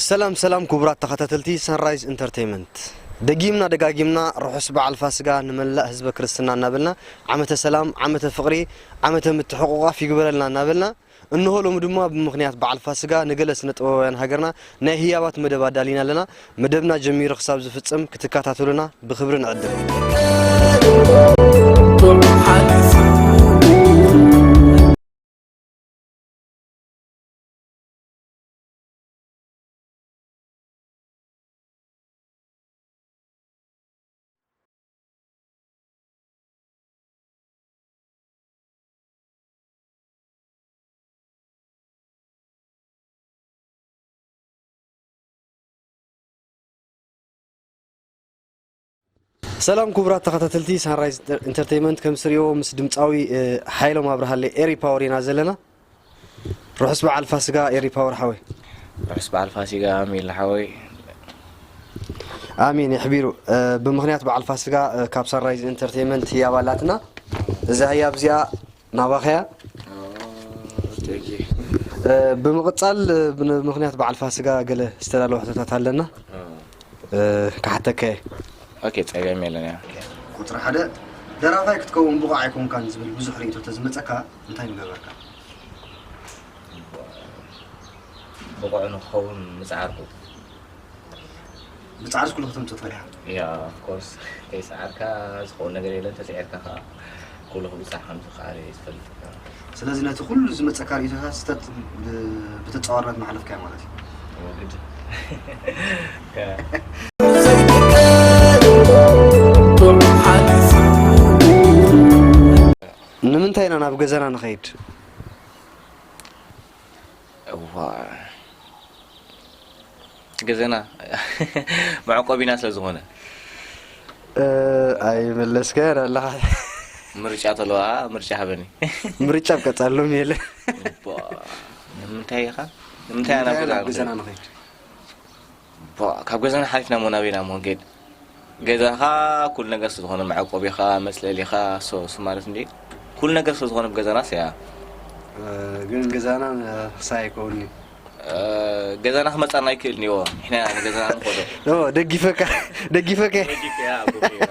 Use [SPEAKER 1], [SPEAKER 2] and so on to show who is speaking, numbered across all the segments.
[SPEAKER 1] ሰላም ሰላም ክቡራት ተኸታተልቲ ሰንራይዝ ኢንተርቴይመንት ደጊምና ደጋጊምና ርሑስ በዓል ፋስጋ ንመላእ ህዝበ ክርስትና እናበልና ዓመተ ሰላም ዓመተ ፍቕሪ ዓመተ ምትሕቑቋፍ ይግበረልና እናበልና እንሆ ሎሚ ድማ ብምኽንያት በዓል ፋስጋ ንገለ ስነ ጥበባውያን ሃገርና ናይ ህያባት መደብ ኣዳሊና ኣለና። መደብና ጀሚሩ ክሳብ ዝፍጽም ክትከታተሉና ብኽብሪ ንዕድም። ሰላም ክቡራት ተኸታተልቲ ሳንራይዝ ኢንተርቴንመንት ከም ስሪኦ ምስ ድምፃዊ እ፣ ሓይሎም ኣብርሃለ ኤሪ ፓወር ኢና ዘለና ርሑስ በዓል ፋስጋ ኤሪ ፓወር ሓወይ ርሑስ በዓል
[SPEAKER 2] ፋሲጋ ሚል ሓወይ
[SPEAKER 1] ኣሜን የሕቢሩ እ፣ ብምክንያት በዓል ፋስጋ እ፣ ካብ ሳንራይዝ ኢንተርቴንመንት ህያብ ኣላትና እዛ ህያብ እዚኣ ናባኸያ ብምቕጻል ብምኽንያት በዓል ፋስጋ ገለ ዝተዳለወ ሕቶታት ኣለና ክሓተካየ
[SPEAKER 2] ኦኬ ጸገም የለን ያ ቁጽሪ ሓደ
[SPEAKER 1] ደራፋይ ክትከውን ብቑዕ ኣይኮንካን ዝብል ብዙሕ ርእይቶ ተዝመጸካ እንታይ ምገበርካ
[SPEAKER 2] ብቑዕ ንክኸውን ምጽዓርኩ
[SPEAKER 1] ብጻዕርስ ኩሉ ከተምጽእ ትኽእል ኢኻ። ያ ኦፍ ኮርስ
[SPEAKER 2] ከይጸዓርካ ዝኸውን ነገር የለን፣ ተጸዒርካ ከኣ ኩሉ ክብጻሕ ከም ዝከኣል እየ ዝፈልጥ። ስለዚ ነቲ
[SPEAKER 1] ኩሉ ዝመጸካ ርእይቶታት ስተት ብተጻዋርነት እናሓለፍካዮ ማለት
[SPEAKER 2] እዩ። እዎ
[SPEAKER 1] ግድ ንምንታይ ኢና ናብ ገዛና ንኸይድ?
[SPEAKER 2] እዋእ እቲ ገዘና መዕቆቢና ስለ ዝኾነ
[SPEAKER 1] ኣይመለስካዮን ኣለኻ ምርጫ
[SPEAKER 2] ተለዋ ምርጫ ሃበኒ ምርጫ ኣብ ቀፃሊ
[SPEAKER 1] ሎሚ የለ እባ ንምንታይ
[SPEAKER 2] ኢኻ ንምንታይ ኣና ገዛ ገዛና ንኸይድ ቧእ ካብ ገዛና ሓሊፍና እሞ ናበይናሞ ክንከይድ ገዛኻ ኩሉ ነገር ስለ ዝኾነ መዕቆቢኻ መጽለሊኻ ሶ እሱ ማለት እንዲ ኩሉ ነገር ስለ ዝኾነ ብገዛና ሰያ
[SPEAKER 1] ግን ገዛና ክሳብ ኣይከውን እዩ
[SPEAKER 2] ገዛና ክመጻና ኣይክእል ኒዎ ንሕና ገዛና ንኸዶ ደጊፈካ
[SPEAKER 1] ደጊፈካ
[SPEAKER 2] ደጊፈያ ኣቦ ገይራ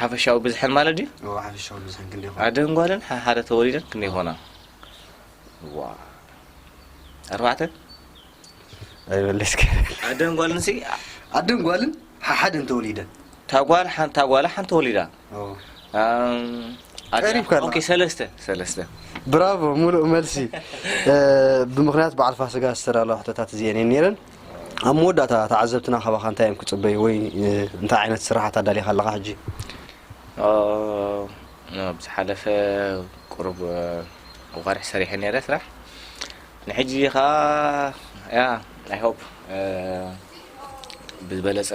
[SPEAKER 2] ሓፈሻዊ ብዝሐን ማለት ድዩ? እዎ ሓፈሻዊ ብዝሐን
[SPEAKER 1] ክንደይ ይኾና? ኣደን ጓልን ሓደ
[SPEAKER 2] ተወሊደን ክንደይ ይኾና? እዋ ኣርባዕተ
[SPEAKER 1] ኣይበለስከ ኣደን ጓልን ሲ
[SPEAKER 2] ኣደን ጓልን
[SPEAKER 1] ሓደ እንተወሊደን እታ ጓል ሓንታ
[SPEAKER 2] ጓላ ሓንቲ ወሊዳ ቀሪብካ ኦኬ ሰለስተ ሰለስተ ብራቮ
[SPEAKER 1] ሙሉእ መልሲ ብምክንያት በዓል ፋስጋ ዝተዳለዋ ሕቶታት እዚኤን እየን ነይረን ኣብ መወዳእታ ተዓዘብትና ካባኻ እንታይ እዮም ክጽበዩ ወይ እንታይ ዓይነት ስርሓት ኣዳሊኻ ኣለኻ ሕጂ? ኣብ
[SPEAKER 2] ዝሓለፈ ቁሩብ ኣዋርሕ ሰሪሐ ነይረ ስራሕ ንሕጂ ከኣ ያ ኣይ ሆፕ ብዝበለጸ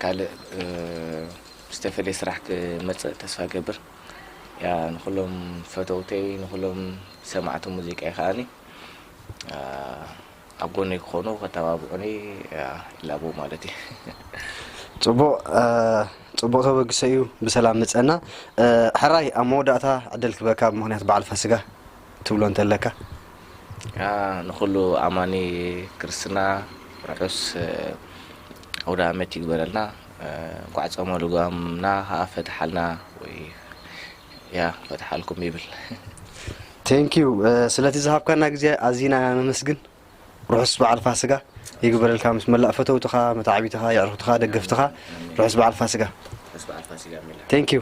[SPEAKER 2] ካልእ ዝተፈልየ ስራሕ ክመጽእ ተስፋ ገብር ያ ንኹሎም ፈተውተይ ንኹሎም ሰማዕቲ ሙዚቀይ ከኣኒ ኣብ ጎነይ ክኾኑ ከተባብዑኒ ይላቦ ማለት እዩ።
[SPEAKER 1] ጽቡቕ ጽቡቕ ተበግሶ እዩ ብሰላም ምጸና። ሕራይ ኣብ መወዳእታ ዕድል ክበካ ብምኽንያት በዓል ፋስጋ ትብሎ እንተለካ።
[SPEAKER 2] ንኹሉ ኣማኒ ክርስትና ርሑስ ኣውደኣመት ይግበረልና። እንቋዕ ጾመ ልጓምና ከኣ ፈትሓልና ወይ ያህ ክፈትሓልኩም ይብል።
[SPEAKER 1] Thank you ስለቲ ዝሃብካና ግዜ ኣዚና ኢና ነመስግን ርሑስ በዓል ፋስጋ ይግበረልካ ምስ መላእ ፈተውትኻ መታዕቢትኻ የዕርኽትኻ ደገፍትኻ ርሑስ በዓል ፋስጋ ርሑስ በዓል
[SPEAKER 2] ፋስጋ
[SPEAKER 1] ሚላ
[SPEAKER 2] Thank you